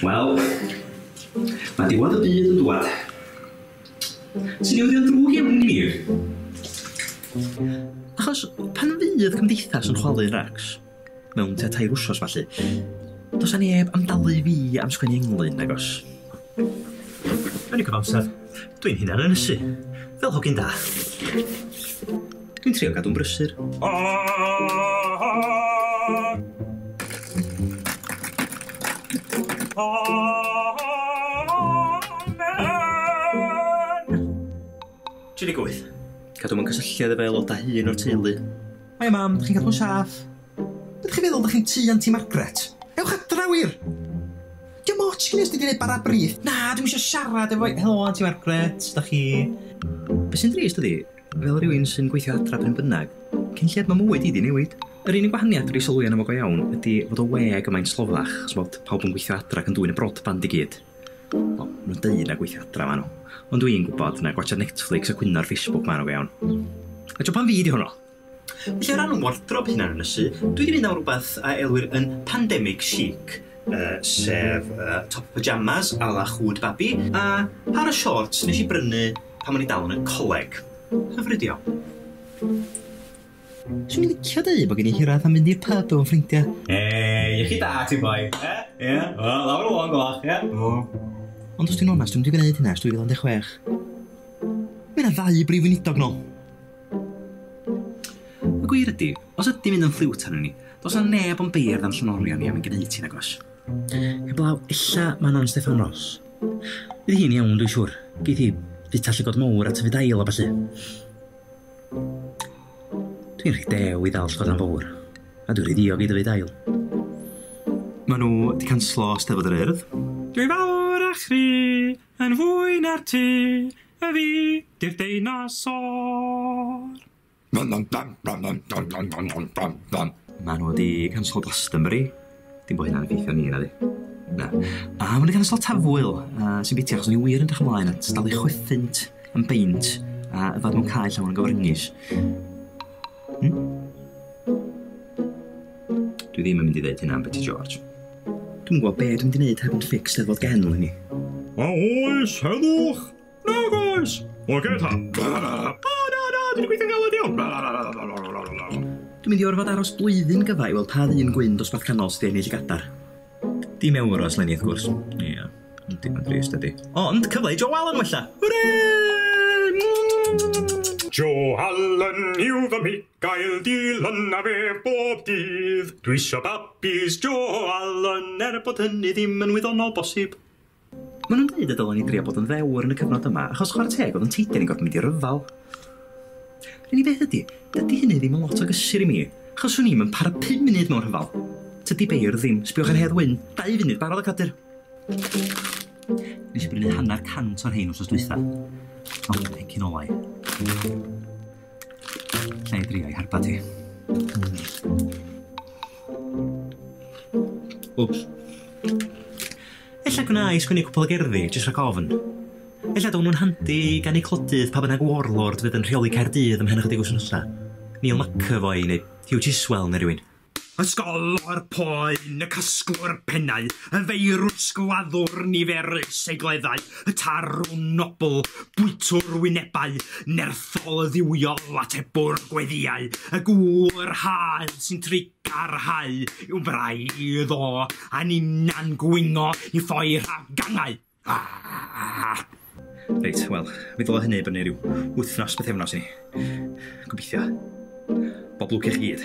Wel, mae diwedd y byd yn dwad. Ti'n newyddion drwg iawn i mi. Achos pan fydd cymdeithas yn chwalu Rax, mewn tua tair wsos falle, does na neb am dalu fi am sgwennu englyn, agos. Yn y cyfamser, dw i'n hunan ynysu, fel hogyn da. Dw i'n trio gadw'n brysur. Tri deg wyth. Cadw mewn cysylltiad efo aelodau hŷn o'r teulu. Hiya Mam, dych chi'n cadw'n saff? Be dych chi'n feddwl, dych chi'n tŷ Anti Margaret? Ewch adra wir! Diom ots gin i os dwi di neud bara brith. Na, dwi'm isio siarad efo hi. Helo Anti Margaret, sut dach chi? Be sy'n drist ydi, fel rywun sy'n gweithio adra pryn bynnag, cyn lled mae mywyd i di newid. Yr unig wahaniaeth dwi di sylwi arno fo go iawn ydi fod y we gymaint sloddach, ch'mod, pawb yn gweithio adra ac yn dwyn y broadband i gyd. Wel, ma nhw'n deud na gweithio adra ma nhw, ond dwi'n gwybod na gwatsiad Netflix a cwyno ar Facebook ma nhw go iawn. A tibod pam fi di hwnnw? Felly o ran 'y ngwardrob hunan ynysu, dwi 'di mynd am rwbeth a elwir yn pandemic chic, yy sef yy top pyjamas a la Hwd Babi a pâr o siorts nes i brynu pan o'n i dal yn y coleg. Hyfryd iawn. Swn i'n licio deud bod gen i hiraeth am fynd i'r pyb efo ffrindiau. Hei, iechyd da ti boi. Ie? Ie? Wel, lawr o'n goch, ie? O. Ond os ti'n onest, dwi'n wedi gwneud hynna ers 2016. Mae yna ddau brif weinidog nôl. Y gwir ydy, os ydym yn ymffliwt arnyn ni, does na neb yn beirdd a'n llenorion ni am ein gneud hi, nagos? Heblaw ella man Ann Steffan Ros. Bydd hi'n iawn, dwi'n siŵr. Geith hi fita llygod mowr a tyfu dail a ballu. Dwi'n rhy dew i ddal llygod am fowr, a dwi'n rhy ddiog i dyfu dail. Mae nhw wedi canslo Steddfod yr Urdd. Dwi fawr a chri yn fwy na'r ti, A fi 'di'r deinosor! Maen nhw wedi canslo Glastonbury. Dim bod hynna'n effeithio ni, nadi? Na. A maen nhw wedi canslo Tafwyl, a sy'n biti achos o'n i wir yn edrych ymlaen at dalu chwethunt yn beint a yfed mewn cae llawn o gyfryngys. Hmm? Dwi ddim yn mynd i ddeud hynna am Betty George. Dwi'n gwybod be dwi'n mynd i wneud heb yn ffix lle fod gen i ni. A oes, heddwch! Nag oes! O, gyd ta! O, na, na, dwi'n gweithio'n galed iawn! Dwi'n mynd i orfod aros blwyddyn gyfa i weld pa ddyn gwyn dosbarth canol sydd wedi ennill y gadar. Dim ewros, Lenny, wrth gwrs. Ie. Yeah. Dim yn drist ydy. Ond cyfle i Joe Allen wella! Hwre! Joe Allen yw fy Michael Dylan a fe bob dydd. Dwi isio babis Joe Allen er bod hynny ddim yn wyddonol bosib. Maen nhw'n dweud y dylwn ni drio bod yn ddewr yn y cyfnod yma achos chwarae teg oedd yn teithio ni'n gorfod mynd i ryfel. Yr unig beth ydy, dydy hynny ddim yn lot o gysur i mi achos swn i'm yn para pum munud mewn rhyfel. Tydi beirdd ddim, sbiwch ar Hedd Wyn, dau funud, barod y cadur. Nes i brynu hanner cant o'r hein wrth dwytha. Ond dwi'n hecyn olau. Lle i drio i harba ti. Wps. Ella gwna i sgwini cwpl o gerddi, jyst rhaid gofn. Ella dod nhw'n handi gan ei clodydd pa bynnag warlord fydd yn rheoli Caerdydd ymhen ychydig o wythnosau. Neil McAvoy neu Hugh Tiswell neu rhywun. Ysgolor poen y casglwr pennau, y feirws gladdwr niferus ei gleddau, y tarwn nobl, bwytwr wynebau, nerthol dduwiol, atebwr gweddïau, y gŵr yr haul sy'n trigar hau i'w fraidd o, a ninna'n gwingo i ffoi rhag gangau. Reit, wel, mi ddyla hynny i fyny rhyw wythnos, bythefnos i ni. Gobeithio. Bob lwc i chi gyd.